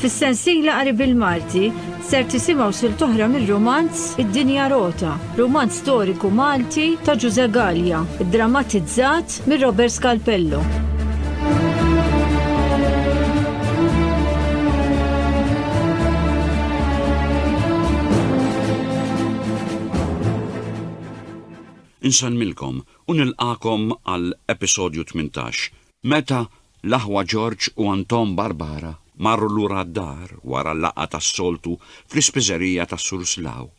Fis-sensiela qari bil-Malti ser tisimgħu sil toħra mir-romanz Id-Dinja Rota, romanz storiku Malti ta' Ġuże Gallia, drammatizzat mir Robert Scalpello. Insellmilkom u nilqagħkom għal episodju tmintax. Meta l-aħwa George u Anton Barbara marru lura d-dar wara l-laqgħa tas-soltu fl-ispiżerija ta' Sur Slough,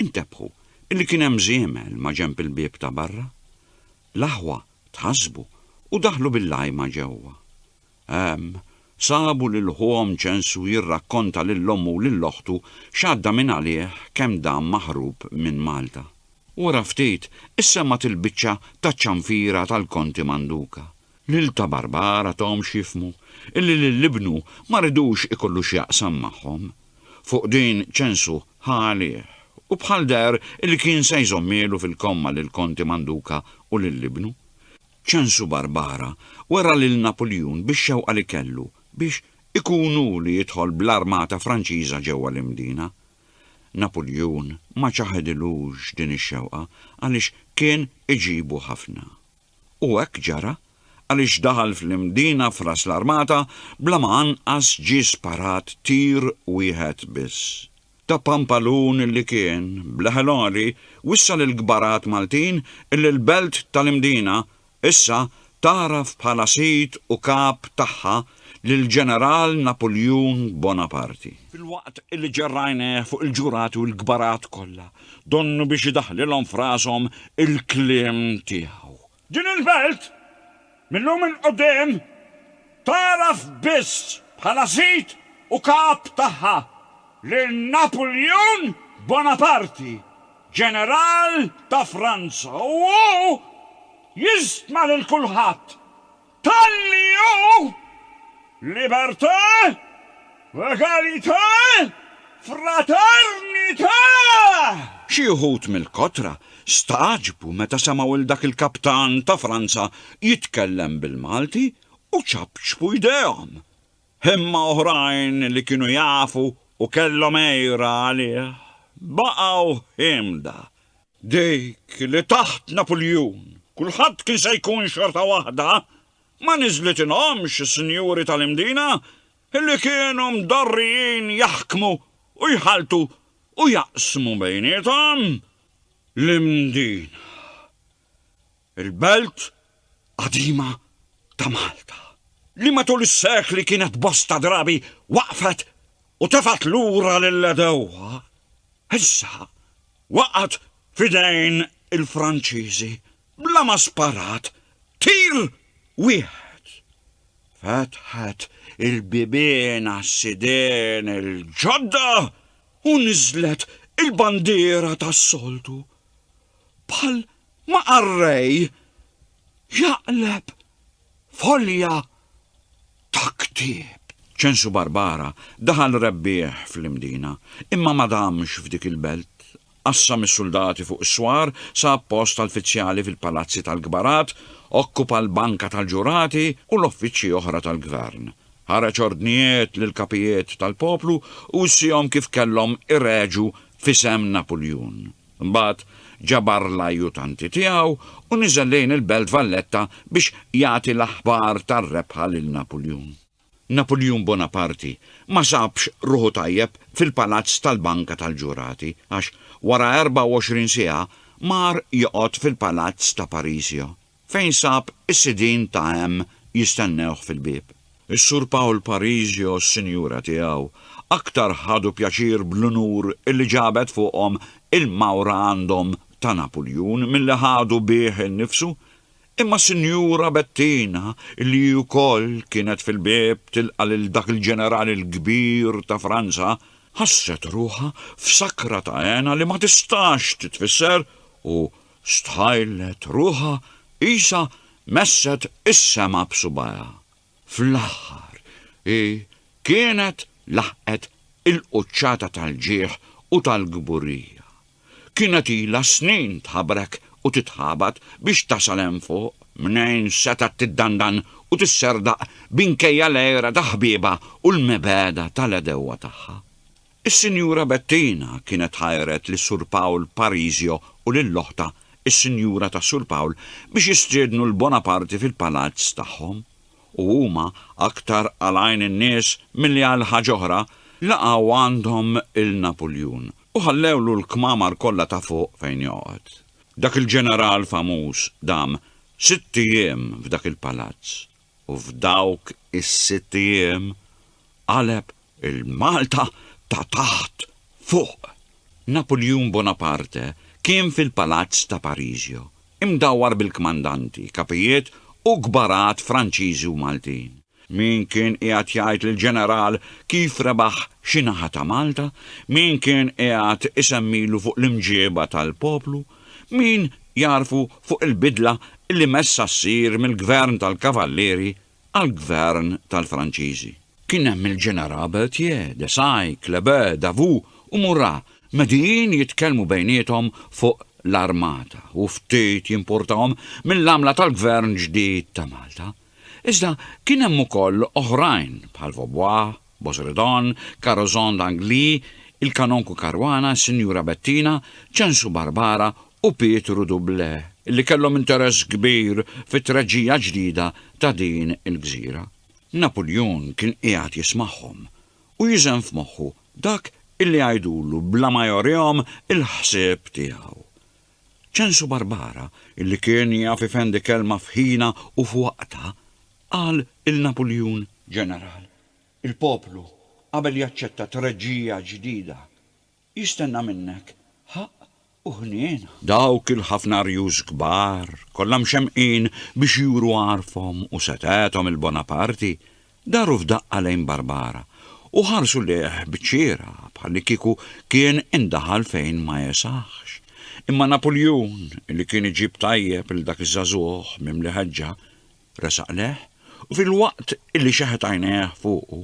intebħu illi kien hemm żiemel maġenb il-bieb ta' barra. L-aħwa tħassbu u daħlu bil-għajma ġewwa. Hemm, sabu lil ħuhom Ġensù jirrakkonta lil ommu u lil oħtu x'għadda minn għalih kemm dam maħrub minn Malta. Wara ftit, issemgħet il-biċċa taċ-ċanfira tal-Konti Manduka. Lil Ta' Barbara thomx jifhmu illi lil ibnu ma ridux ikollu x'jaqsam magħhom. Fuq din Ġensù ħa għalih u bħal deher illi kien se jżommielu fil-komma lill-Konti Manduka u lil ibnu. Ċensu Barbara wera lil Napuljun bix-xewqa li kellu biex ikun hu li jidħol bl-armata Franċiża ġewwa l-Imdina. Napuljun ma ċaħedilux din ix-xewqa għaliex kien iġibu ħafna. U hekk ġara għaliex daħal fl-Imdina f'ras l-armata bla ma anqas ġie sparat tir wieħed biss. ta' Pampalun li kien, b'leħel għoli, wissa lill-kbarat Maltin illi l-Belt tal-Imdina issa tagħraf bħala sid u kap tagħha lill-Ġeneral Napuljun Bonaparti. Filwaqt illi ġerra għajnejh fuq il-ġurati u l-kbarat kollha, donnu biex idaħħlilhom f'rashom il-kliem tiegħu. Din il-belt, mil-lum 'il quddiem, tagħraf biss bħala sid u kap tagħha lil Napuljun Bonaparti, ġeneral ta' Franza, u hu jistma lil kulħadd Talli hu libertà, egalità, fraternità! Xi wħud mill-kotra stagħġbu meta semgħu 'l dak il-kaptan ta' Franza jitkellem bil-Malti u ċapċpu jdejhom. Imma oħrajn li kienu jafu u kellhom għira għalih baqgħu ħiemda. Dik li taħt Napuljun kulħadd kien se jkun xorta waħda ma niżlitilhomx is-sinjuri tal-Imdina li kienu mdorrijin jaħkmu u jħalltu u jaqsmu bejniethom l-Imdina. Il-belt qadima ta' Malta, li matul is-sekli kienet bosta drabi waqfet u tefgħet lura lill-għedewwa, issa waqgħet f'idejn il-Franċiżi bla ma sparat tir wieħed. Fetħet il-bibien għas-sidien il-ġodda u niżlet il-bandiera tas-soltu bħal Ma qarrej jaqleb folja ta' ktieb. Ċensu Barbara daħal rebbieħ fl-Imdina, imma ma damx f'dik il-belt. Qassam is-suldati fuq is-swar, sab post tal-fizzjali fil-palazzi tal-kbarat, okkupa l-banka tal-ġurati u l-offiċċji oħra tal-gvern. Ħareġ ordnijiet lill-kapijiet tal-poplu u wissiehom kif kellhom ireġgħu f'isem Napuljun. Imbagħad ġabar l-ajjutanti tiegħu u niżel lejn il-Belt Valletta biex jagħti l-aħbar tar-rebħa lil Napuljun. Napuljun Bonaparti ma sabx ruħu tajjeb fil-palazz tal-Banka tal-Ġurati għax wara 24 siegħa mar joqgħod fil-palazz ta' Parisio fejn sab is-sidien ta' hemm jistennewh fil-bieb. Is-Sur Paul Parisi u s-sinjura tiegħu aktar ħadu pjaċir bl-unur li ġabet fuqhom il-mawra għandhom ta' Napuljun milli ħadu bih innifsu, imma s-Sinjura Bettina, li hi wkoll kienet fil-bieb tilqa' lil dak il-ġeneral il-kbir ta' Franza, ħasset ruħha f'sakra ta' hena li ma tistax titfisser u, Stħajlet ruħha qisha messet is-sema b'subgħajha. Fl-aħħar hi kienet laħqet il-quċċata tal-ġieħ u tal-kburija. Kienet ilha snin tħabrek u titħabat biex tasal hemm fuq, mnejn setgħet tiddandan u tisserdaq binkejja l-għira ta' ħbiebha u l-mibegħda tal-għedewwa tagħha. Is-Sinjura Bettina kienet ħajret lis Sur Pawl Parisio u lil oħtha, is-Sinjura ta' Sur Pawl, biex jistiednu 'l Bonaparte fil-palazz tagħhom, u huma, aktar għal għajn in-nies milli għal ħaġ'oħra, laqgħu għandhom 'l Napuljun, u ħallewlu l-kmamar kollha ta' fuq fejn joqgħod. Dak il-ġeneral famuż dam sitt ijiem f'dak il-palazz. u f'dawk is-sitt ijiem qaleb il-Malta ta' taħt fuq. Napuljun Bonaparte kien fil-Palazz ta' Parisio, imdawwar bil-kmandanti, kapijiet u kbarat Franċiżi u Maltin. Min kien qiegħed jgħid lill-ġeneral kif rebaħ xi naħa ta' Malta, min kien qiegħed isemmilu fuq l-imġieba tal-poplu, Min jagħrfu fuq il-bidla li messha ssir mill-Gvern tal-Kavallieri għall-Gvern tal-Franċiżi? Kien hemm il-Ġeneral Berthier, Desai, Kleber, Davout u Murat medijin jitkellmu bejniethom fuq l-armata u ftit jimpurtahom mill-għamla tal-Gvern ġdid ta' Malta. Iżda kien hemm ukoll oħrajn bħal Vaubois, Bosredon, Carozon d'Angly, il-Kanonku Caruana, is-Sinjura Bettina, Ċensu Barbara u Pietru Doublé li kellhom interess kbir fit-treġġija ġdida ta' din il-gżira. Napuljun kien qiegħed jismagħhom u jiżen f'moħħu dak illi jgħidulu bla ma jorihom il-ħsieb tiegħu. Ċensu Barbara, illi kien jaf ifendi kelma f'ħinha u f'waqtha, qal il Napuljun. Ġeneral, il-poplu, qabel jaċċetta treġġija ġdida, jistenna minnek ħaqq u ħniena. Dawk il-ħafna arjuż kbar, kollha mxemmqin biex juru għarfhom u setgħethom 'il Bonaparti, Daru f'daqqa lejn Barbara u ħarsu lejh b'ċira bħallikieku kien indaħal fejn ma jesahx. Imma Napuljun, li kien iġib tajjeb lil dak iż-żagħżugħ mimli ħeġġa, resaq lejh u filwaqt li xeħet għajnejh fuqu,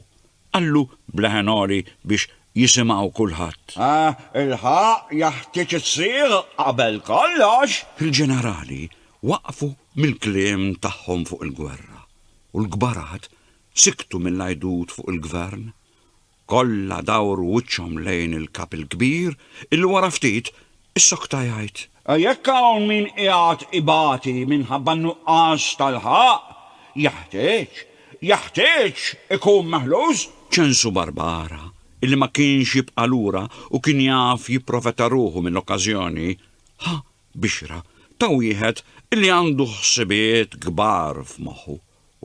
qallu b'leħen għoli biex jisimgħu kulħadd. Ah, ilħaq, jeħtieġ issir qabel kollox! Il-ġenerali waqfu mill-kliem tagħhom fuq il-gwerra u l-kbarat siktu mill-għidut fuq il-Gvern, kollha dawru wiċċhom lejn il-Kap il-Kbir illi wara ftit issokta jgħid. Jekk hawn min qiegħed ibati minħabba n-nuqqas tal-ħaqq, jeħtieġ, jeħtieġ ikun meħluż! Ċensu Barbara, illi ma kienx jibqa' lura u kien jaf jipprofeta ruħu mill-okkażjoni, ħa bixra ta' wieħed li għandu ħsibiet kbar f'moħħu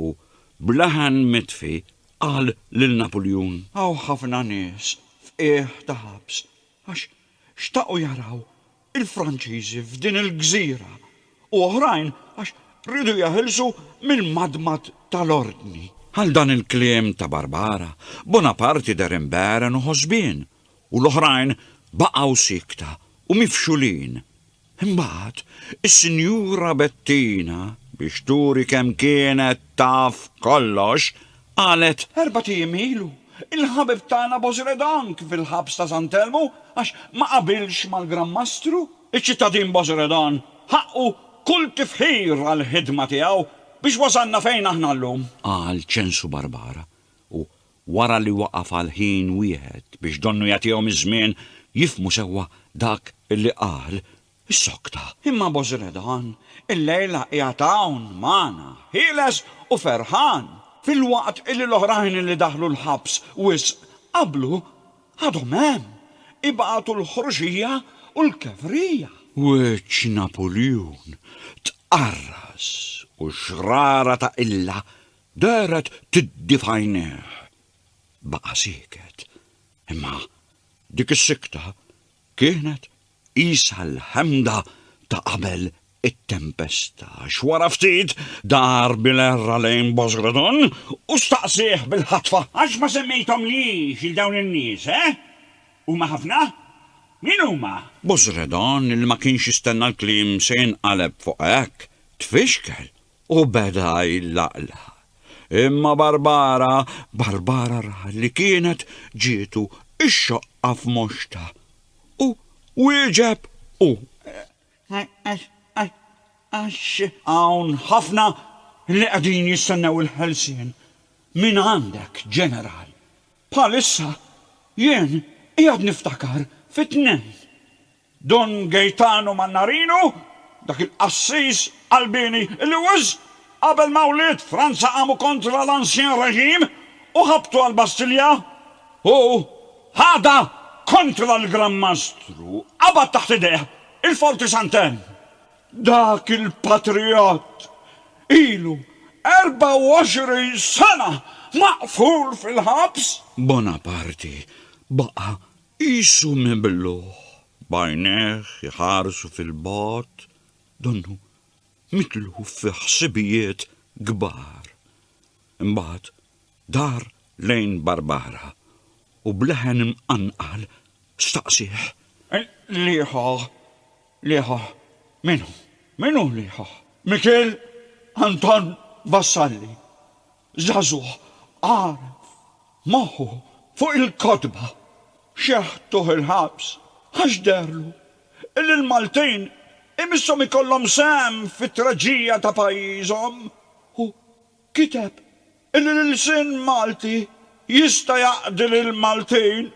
u, b'leħen mitfi, qal lil Napuljun. Hawn ħafna nies f'qiegħ ta' ħabs għax xtaqu jaraw il-Franċiżi f'din il-gżira u oħrajn għax riedu jeħilsu mill-madmad tal-Ordni. Għal dan il-kliem ta' Barbara, Bonaparti deher imbegħren u ħosbien u l-oħrajn baqgħu siekta u mifxulin. Imbagħad, is-Sinjura Bettina, biex turi kemm kienet taf kollox, qalet, Erbat ijiem ilu, il-ħabib tagħna Bosredan kien fil-ħabs ta' San Telmu għax ma qabilx mal-Gran Mastru. Iċ-ċittadin Bosredan ħaqqu kull tifħir għall-ħidma tiegħu biex wasalna fejn aħna llum. Qal Ċensu Barbara u Wara li waqaf għal ħin wieħed biex donnu jagħtihom iż-żmien jifhmu sewwa dak li qal, issokta. Imma Bozredan illejla qiegħed hawn magħna, ħieles u ferħan, filwaqt li l-oħrajn li daħlu l-ħabs wisq qablu għadhom hemm, ibatu l-ħruxija u l-kevrija. Wiċċ Napuljun tqarras u xrara ta' qilla Dehret tiddi f'għajnejh. Baqa' sieket. Imma dik is-sikta kienet qisha l-ħemda ta' qabel it-tempesta għax wara ftit dar bil-għerra lejn Boss Gradon u staqsieh bil-ħatfa. Għax ma semmejthomlix lil dawn in-nies, eh? Huma ħafna? Min huma? Boss Gradon li ma kienx jistenna l-kliem se jinqaleb fuq hekk, tfixkel U beda jlaqlaq. Imma Barbara, Barbara ra li kienet ġietu x-xoqqa f'moxta. U wieġeb hu. Għax hawn ħafna li qegħdin jistennew il-ħelsien minn għandek, Ġeneral. Bħalissa jien qiegħed niftakar fit-tnejn Dun Gejtanu Mannarinu, dak il-qassis qalbieni li wisq qabel ma wlied Franza qamu kontra l-ancien régime u ħabtu għall-Bastilja, hu ħadha kontra l-Gran Mastru, qabad taħt idejh il-Forti Sant'Enn. Dak il-patrijott ilu 24 sena maqful fil-ħabs. Bonaparti baqa' Qisu mibluh, b'għajnejh iħarsu fil-bogħod, donnu mitluf fi ħsibijiet kbar. Imbagħad dar lejn Barbara u b'leħen imqanqal staqsieh. Liħoh, liħoh, min hu? Min hu liħoh? Mikiel Anton Vassalli. Żagħżugħ għaraf moħħu fuq il-kotba xeħtuh il-ħabs għax deherlu illi l-Maltin imisshom ikollhom sehem fit-traġija ta' pajjiżhom u kiteb illi l-ilsien Malti jista' jaqdi lill-Maltin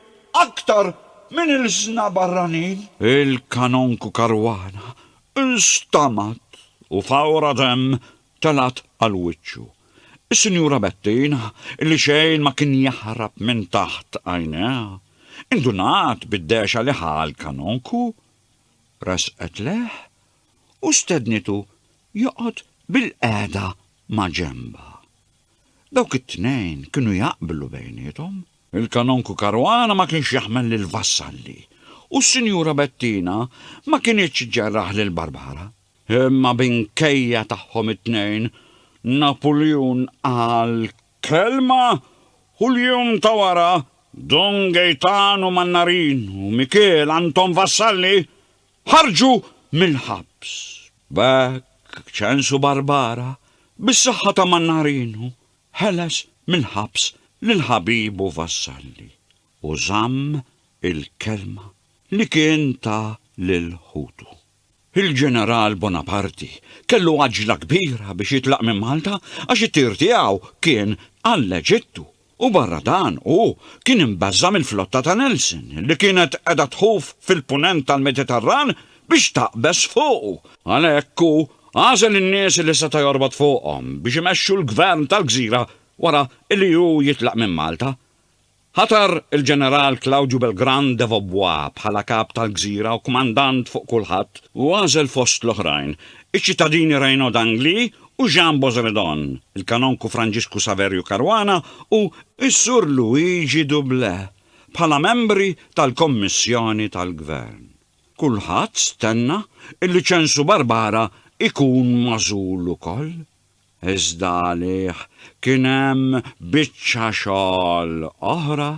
aktar minn ilsna barranin. Il-Kanonku Caruana nstamgħat u f'għawra demm telgħet għal wiċċu. Is-Sinjura Bettin, li xejn ma kien jaħrab minn taħt għajnejha, indunat bid-dehxa li ħa l-kanonku, resqet lejh u stednitu joqgħod bil-qiegħda ma' ġenbha. Dawk it-tnejn kienu jaqblu bejniethom. Il-kanonku Karwana ma kienx jaħmel lil Vassalli u s-Sinjura Bettina ma kinitx ġerraħ lil Barbara. Imma minkejja tagħhom it-tnejn, Napuljun qal kelma u l-jum ta' wara Don Gejtanu Mannarin u Mikiel Anton Vassalli ħarġu mill-ħabs. B'hekk Ċensu Barbara, bis-saħħa ta' Mannarinu, ħeles mill-ħabs lil ħabibu Vassalli u żamm il-kelma li kien ta lil ħutu. Il-Ġeneral Bonaparti kellu għaġla kbira biex jitlaq minn Malta għax it-tir tiegħu kien għall-Eġittu u barra dan hu kien imbeżża' mill-flotta ta' Nelson li kienet qiegħda tħuf fil-Punent tal-Mediterran biex taqbeż fuqu. Għalhekk hu għażel in-nies li seta' jorbot fuqhom biex imexxu l-Gvern tal-gżira wara li hu jitlaq minn Malta. Ħatar il-Ġeneral Claudio Belgrand de Vaubois bħala Kap tal-Gżira u Kmandant fuq kulħadd u għażel fost l-oħrajn, iċ-ċittadini Reynaud d'Angly u Jean Bozredon, il-Kanonku Franġisku Saverju Caruana u s-Sur Luigi Doublé bħala membri tal-Kommissjoni tal-Gvern. Kulħadd stenna illi Ċensu Barbara jkun magħżul ukoll. Iżda għalih kien hemm biċċa xogħol oħra.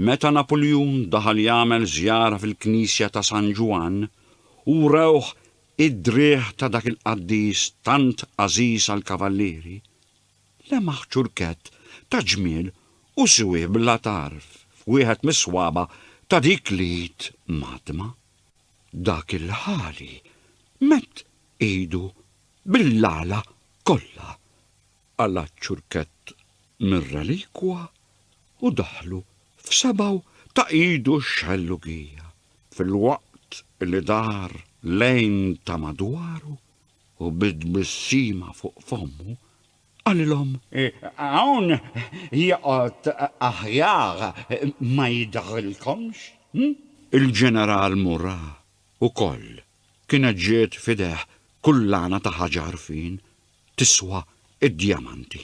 Meta Napuljun daħal jagħmel żjara fil-knisja ta' San Ġwann, u wrewh id-driegħ ta' dak il-qaddis tant għażiż għall-kavallieri, lemaħ ċurkett ta' ġmiel u siwih bla tarf f'wieħed mis-swaba' ta' dik l-id mgħaddma. Dak il-ħali medd idu Bil-għala kollha qala' ċ-ċurkett mir-relikwa u daħlu f'sebgħu ta' idu x-xellugija, filwaqt li dar lejn ta' madwaru u bi tbissima fuq fommu qalilhom. Hawn joqgħod aħjar ma jidhrilkomx? Il-Ġeneral Murat ukoll kienet ġiet f'idejh kullana ta' ħaġa għarfien tiswa d-djamanti.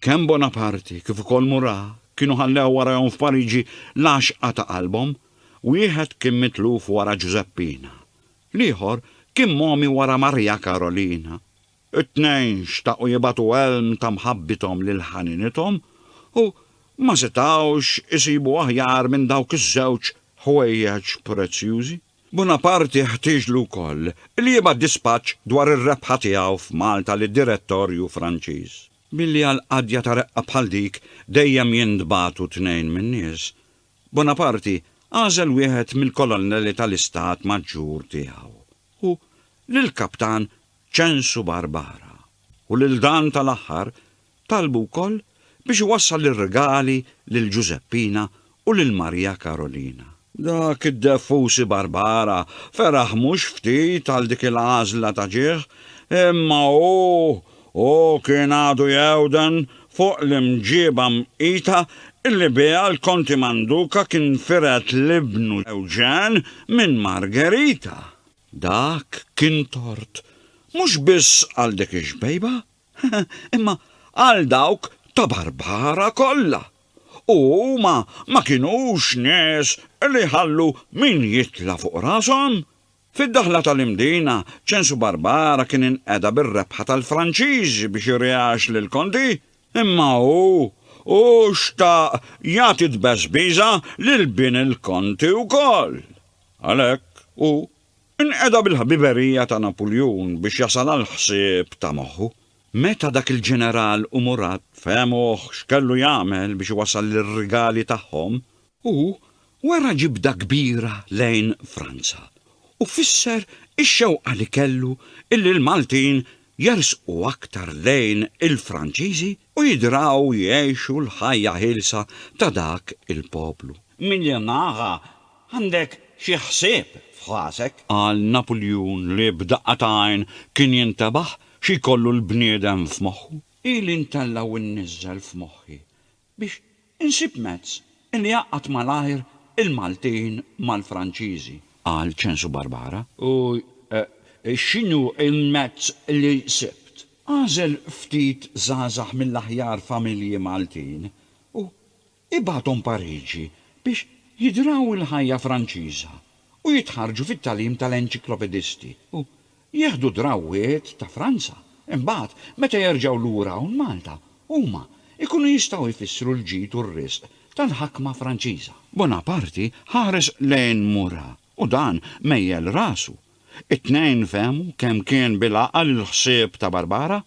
Kemm Bonaparte kif ukoll Murat kienu ħallew warajhom f'Pariġi l-għaxqa ta' qalbhom, wieħed kien mitluf wara Ġużeppina, l-ieħor kien mogħmi wara Marija Karolina. It-tnejn xtaqu jibagħtu għelm ta' mħabbithom lil ħaninithom u ma setgħux isibu aħjar minn dawk iż-żewġ ħwejjeġ prezzjużi. Bunaparti ħtieġlu wkoll li jibgħat dispaċċ dwar ir-rebħa tiegħu f'Malta lid-Direttorju Franċiż. Billi għal qadja ta' reqqa bħal dik dejjem jintbagħtu tnejn min-nies, Bunaparti għażel wieħed mill-kolonnelli tal-Istat Maġġur tiegħu u lill-kaptan Ċensu Barbara u lil dan tal-aħħar talbu wkoll biex iwassal ir-rigali lil Ġużeppina u lil Marija Karolina. Dak id-deffusi Barbara feraħ mhux ftit għal dik il-għażla ta' ġieħ, imma hu hu kien għadu jgħewden fuq l-imġieba mqita illi biha l-Konti Manduca kien firet l-ibnu Ewġen minn Margherita. Dak kien tort mhux biss għal dik ix-xbejba, imma għal dawk ta' Barbara kollha. U huma ma kinux nies li jħallu min jitla' fuq rashom. Fid-daħla tal-Imdina, Ċensu Barbara kien inqeda bir-rebħa tal-Franċiżi biex irieax lill-Konti, imma hu, hu xtaq jagħti tbeżbiża lil bin il-Konti wkoll. Għalhekk, hu nqeda bil-ħbiberija ta' Napuljun biex jasal għall-ħsieb ta' moħħu. Meta dak il-ġeneral u Murat fehmuh x'kellu jagħmel biex iwassal ir-rigali tagħhom, hu wera ġibda kbira lejn Franza u fisser ix-xewqa li kellu illi l-Maltin jersqu aktar lejn il-Franċiżi u jidraw jgħixu l-ħajja ħielsa ta' dak il-poplu. Minn naħa, Għandek xi ħsieb f'rasek? Qal Napuljun li b'daqqa ta' għajn kien jintebaħ xi jkollu l-bniedem f'moħħu. Ili ntella' u nniżżel f'moħħi biex insib mezz li jgħaqqad malajr il-Maltin mal-Franċiżi, qal Ċensu Barbara. U x'inhu l-mezz li sibt? Għażel ftit żgħażagħ mill-aħjar familji Maltin u Ibagħathom Pariġi biex jidraw il-ħajja Franċiża u jitħarrġu fit-tagħlim tal-enċiklopedisti u jieħdu drawwiet ta' Franza. Imbagħad, meta jerġgħu lura hawn Malta, huma jkunu jistgħu jfissru l-ġid u r-riżq tal-ħakma Franċiża. Bonaparti ħares lejn Murat U dan mejjel rasu. It-tnejn fehmu kemm kien bil-għaqal il-ħsieb ta' Barbara.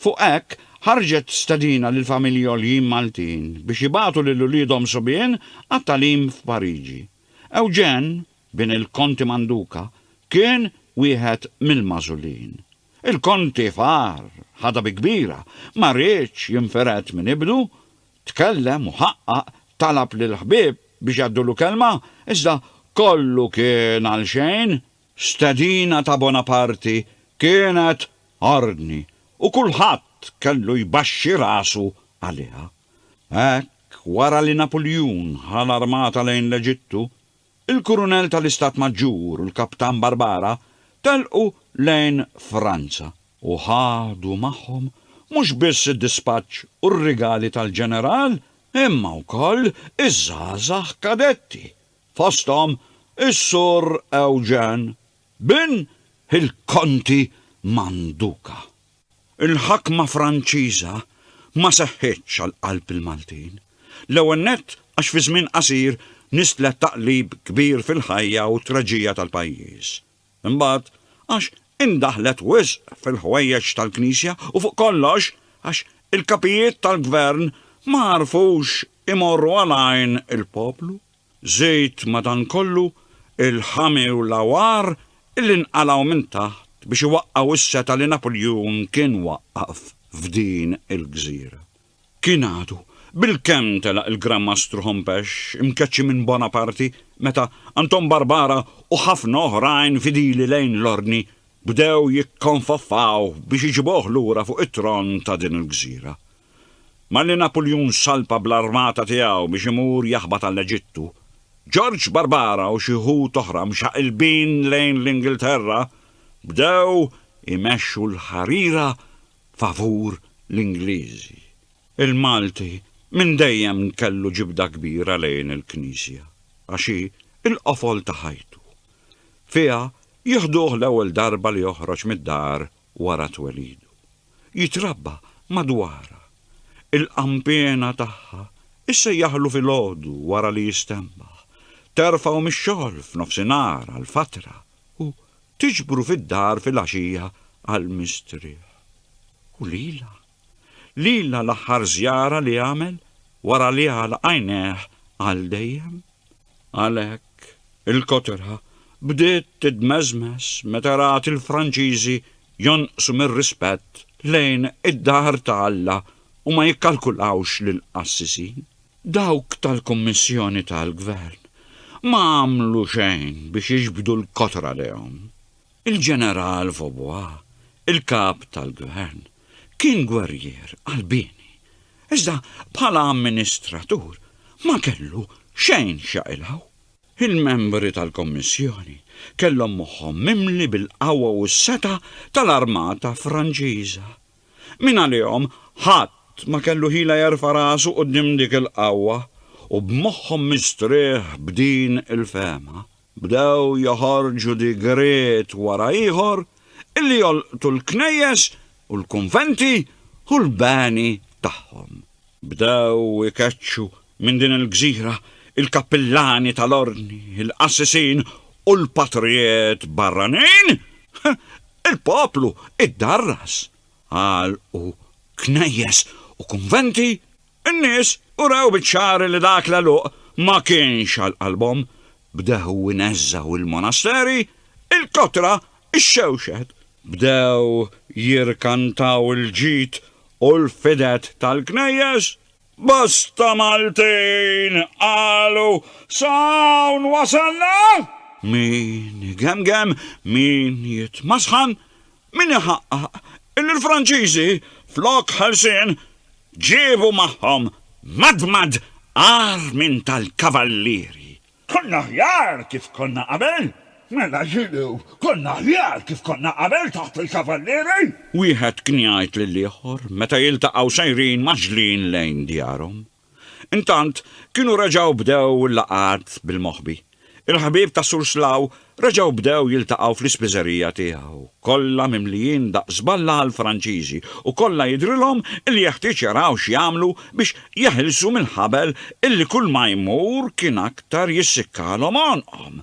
Fuq hekk, ħarġet stedina lill-familji għoljin Maltin biex jibagħtu lil uliedhom subien għat-tagħlim f'Pariġi. Eugène, bin il-Konti Manduca, kien wieħed mill-magħżulin. Il-Konti far, ħadha bi kbira, ma riedx jinfired minn ibnu, Tkellem u ħaqqaq, talab lill-ħbieb biex jgħaddulu kelma, iżda kollu kien għalxejn. Stedina ta' Bonaparti kienet ordni u kulħadd kellu jbaxxi rasu għaliha. Hekk, wara li Napuljun ħa l-armata lejn l-Eġittu, Il-Kurunell tal-Istat Maġġur u l-Kaptan Barbara telqu lejn Franza u ħadu magħhom mhux biss id-dispaċċ u r-rigali tal-Ġeneral imma wkoll iż-żgħażagħ kadetti, fosthom is-Sur Eugène, bin il-Konti Manduca. Il-ħakma Franċiża ma seħħitx għal qalb il-Maltin. L-ewwel nett għax fi żmien qasir nistlet taqlib kbir fil-ħajja u t-traġija tal-pajjiż. Imbagħad għax indaħlet wisq fil-ħwejjeġ tal-Knisja u fuq kollox għax il-kapijiet tal-gvern ma għarfux imorru għal għajn il-poplu. Żid madankollu il-ħami u l-għawar li nqalgħu minn taħt biex iwaqqgħu s-setgħa li Napuljun kien waqqaf f'din il-gżira. Kien għadu bilkemm telaq il-Gran Mastru Hompesch imkeċċi minn Bonaparte meta Anton Barbara u ħafna oħrajn fidili lejn l-Ordni bdew jikkonfoffaw biex iġibuh lura fuq it-tron ta' din il-gżira. Malli Napuljun salpa bl-armata tiegħu biex imur jaħbat għall-Eġittu, Ġorġ Barbara u xi wħud oħra mxaqilbin lejn l-Ingilterra bdew imexxu l-ħarira favur l-Ingliżi. Il-Malti minn dejjem kellu ġibda kbira lejn il-Knisja għax hi l-qofol ta' ħajtu. Fiha jieħduh l-ewwel darba li joħroġ mid-dar wara twelidu, jitrabba madwarha, il-qanpiena tagħha issejjaħlu filgħodu wara li jistenbaħ, terfgħu mix-xogħol f'nofsinhar għal fatra u tiġbru fid-dar filgħaxija għall-mistrieħ. U lilha? Lilna l-aħħar żjara li għamel wara li għala għajnejh għal dejjem. Għalhekk, il-kotra bdiet tidmeżmeż meta rat il-Franċiżi jonqsu mir-rispett lejn id-dar ta' Alla u ma jikkalkulawx lill-qassisin. Dawk tal-Kummissjoni tal-Gvern ma għamlu xejn biex jiġbdu l-kotra lejhom. Il-Ġeneral Vaubois, il-Kap tal-Gvern, kien gwerrier qalbieni, iżda bħala amministratur ma kellu xejn x'jaqilgħu. Il-membri tal-Kommissjoni kellhom moħħhom mimli bil-qawwa u s-setgħa tal-armata Franċiża. Mingħalihom ħadd ma kellu ħila jerfa' rasu quddiem dik il-qawwa u b'moħħhom mistrieħ b'din il-fehma, Bdew joħorġu digriet wara ieħor illi jolqtu l-knejjes u l-kunventi u l-beni tagħhom. Bdew ikeċċu minn din il-gżira il-kappillani tal-Ordni, il-qassisin u l-patrijiet barranin. Il-poplu iddarras. Għalqu knejjes u kunventi In-nies urew biċ-ċar li dak l-għeluq ma kienx għal qalbhom, bdew ineżżgħu l-monasteri, il-kotra, ix-xewxet, bdew jirkantaw il-ġid u l-fidet tal-knejjes. Bosta Maltin qalu, Sa hawn wasalna? Min igemgem, min jitmasħan, Min iħaqqaq illi l-Franċiżi, flok ħelsien, ġiebu magħhom madmad agħar minn tal-Kavallieri? Konna aħjar kif konna qabel? Mela x'inhu, konna aħjar kif konna qabel taħt il-Kavallieri? Wieħed kien jgħid lill-ieħor meta jiltaqgħu sejrin maġlin lejn djarhom. Intant, kienu reġgħu bdew il-laqgħat bil-moħbi. Il-ħbieb ta' Sur Slaw reġgħu bdew jiltaqgħu fl-ispiżerija tiegħu, kollha mimlijin daqq żballa għall-Franċiżi u kollha jidhrilhom li jeħtieġ jaraw x'jagħmlu biex jeħilsu mill-ħabel illi kulma jmur kien aktar jissikkalhom għonqhom.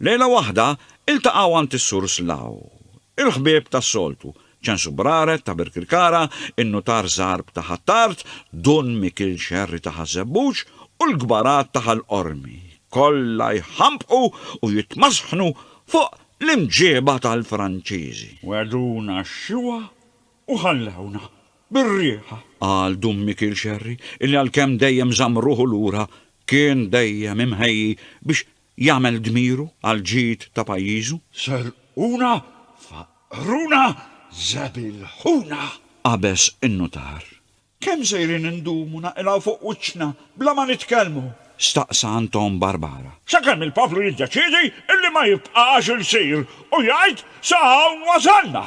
Lejla waħda, iltaqgħu għand is-Sur Slaw. Il-ħbieb tas-soltu, Ċensu Braret ta' Birkirkara, in-Nutar Żarb ta' Ħ'Attard, Dun Mikil Xerri ta' Ħaż-Żebbuġ u l-kbarat ta' Ħal Qormi, kollha jħampqu u jitmasħnu fuq l-imġieba tal-Franċiżi. Wegħduna x-xiwa u ħallewna bir-riħa. Qal Dun Mikil Xerri illi għalkemm dejjem żamm ruħu lura, kien dejjem imħejji biex Jagħmel dmiru għall-ġid ta' pajjiżu? Serquna, faqqruna, żebilħuna! Qabeż in-nutar. Kemm sejrin indumu naqilgħu fuq wiċċna bla ma nitkellmu? Staqsa Anton Barbara. Sakemm il-poplu jiddeċiedi illi ma jibqax il-sir u jgħid sa hawn wasalna!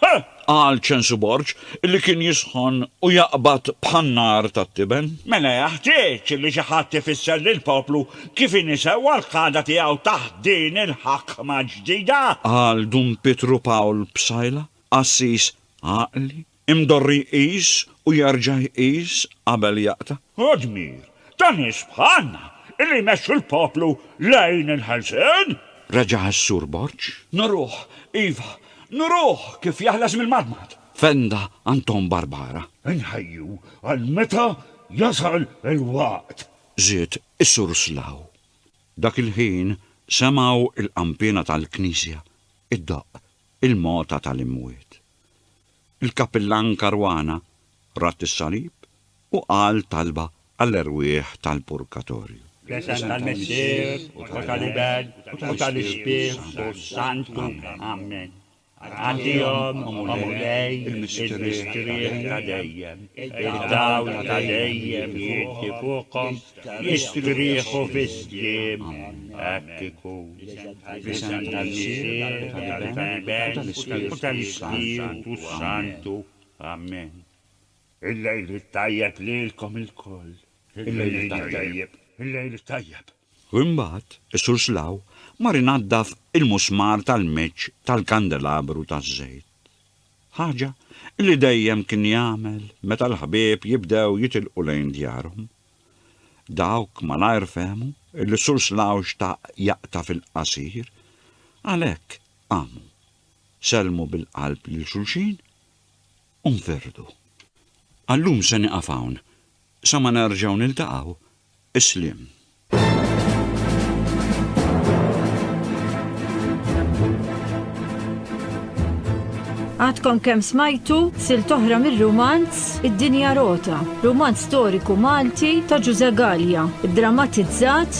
Ħa! qal Ċensu Borg, li kien jisħon u jaqbad bħan-nar tat-tiben. Mela jeħtieġ li xi ħadd ifisser lill-poplu kif inhi sewwa l-qagħda tiegħu taħt din il-ħakma l-ġdida! qal Dun Pietru Pawl Psaila, qassis għaqli, imdorri jqis u jerġa' jqis qabel jaqta'. Hu dmir Ta' nies bħalna li jmexxu l-poplu lejn il-ħelsien? Reġa' s-Sur Borg. Nuruh, iva, nuruh kif jeħles mill-madmad! Fenda Anton Barbara. Inħejju għal meta jasal il-waqt! Żied is-Sur Slaw. Dak il-ħin semgħu l-qanpiena tal-knisja ddoqq il-mogħta tal-imwiet. Il-kappillan Caruana radd is-salib u qal talba għall-erwieħ tal-purgatorju. Fl-isem tal-Missier, u tal-Iben, u tal-Ispirtu s-Santu. Ammen. Għaddihom, O Mulej, il-mistrieħ ta' dejjem, id-dawl ta' dejjem jgħiddi fuqhom, jistrieħu fis-sliem. Hekk ikun. Fl-isem tal-Missier, tal-Iben, u tal-Ispirtu s-Santu. Ammen. Il-lejl it-tajjeb lilkom ilkoll. Il-lejl it-tajjeb. Il-lejl it-tajjeb. Imbagħad, is-Sur Slaw mar inaddaf il-musmar tal-meċċ tal-kandelabru taż-żejt. Ħaġa li dejjem kien jagħmel meta l-ħbieb jibdew jitilqu lejn djarhom. Dawk malajr fehmu li s-Sur Slaw xtaq jaqta' fil-qasir, għalhekk qamu, sellmu bil-qalb lil xulxin u nperdu. Għallum se nieqaf hawn, sa ma nerġgħu niltaqgħu, isliem. Għadkom kemm smajtu silt oħra mir-rumanz Id-Dinja Rota, rumanz storiku Malti ta' Ġuże Galja, ddramatizzat